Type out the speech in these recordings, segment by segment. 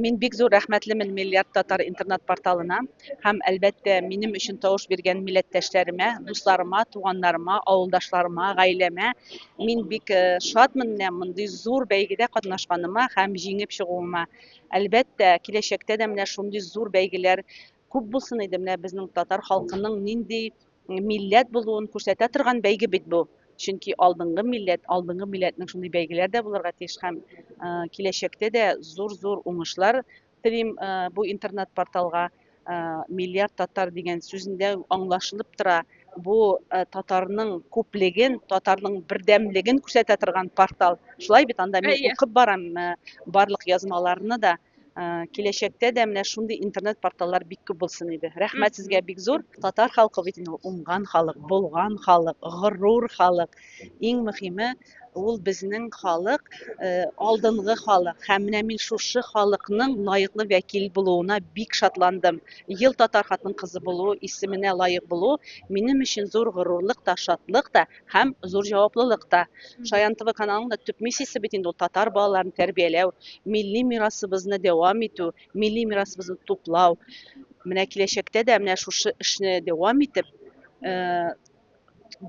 Мин бик зур рәхмәтлемен Миллиард татар интернет-порталына һәм, әлбәттә, минем өчен тавыш биргән милләттәшләремә, дусларыма, туганнарыма, авылдашларыма, гаиләмә. Мин бик э, шатмын менә мондый зур бәйгедә катнашканыма һәм җиңеп чыгуыма. Әлбәттә, киләчәктә дә менә шундый зур бәйгеләр Күп булсын иде, менә безнең татар халкының нинди милләт булуын күрсәтә торган бәйге бит бу. Чөнки алдынгы милләт, алдынгы милләтнең шундый бәйгеләр дә булырга тиеш һәм э, киләчәктә дә зур-зур уңышлар телим э, бу интернет-порталга. Э, миллиард татар дигән сүзендә аңлашылып тора, бу э, татарның күплеген, татарның бердәмлеген күрсәтә торган портал. Шулай бит анда мин укып барам э, барлык язмаларны да. киләчәктә дә менә шундый интернет порталлар бик күп булсын иде. Рәхмәт сезгә бик зур. Татар халкы бит инде уңган халык, булган халык, горур халык. Иң мөһиме ул безнең халык, э, алдынгы халык. Һәм менә мин шушы халыкның лаеклы вәкил булуына бик шатландым. Ел татар хатын кызы булу, исеменә лаек булу минем өчен зур горурлык та, шатлык та. һәм зур җаваплылык та. Шаян ТВ каналының да төп миссиясе бит инде ул татар балаларын тәрбияләү, милли мирасыбызны дәвам итү, милли мирасыбызны туплау. Менә киләчәктә дә менә шушы эшне дәвам итеп, э,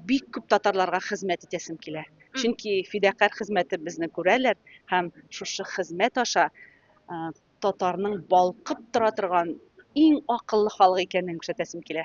бик күп татарларга хезмәт итәсем килә. Чөнки фидакарь хезмәтебезне күрәләр һәм шушы хезмәт аша э, татарның балкып тора торган иң акыллы халык икәнен күрсәтәсем килә.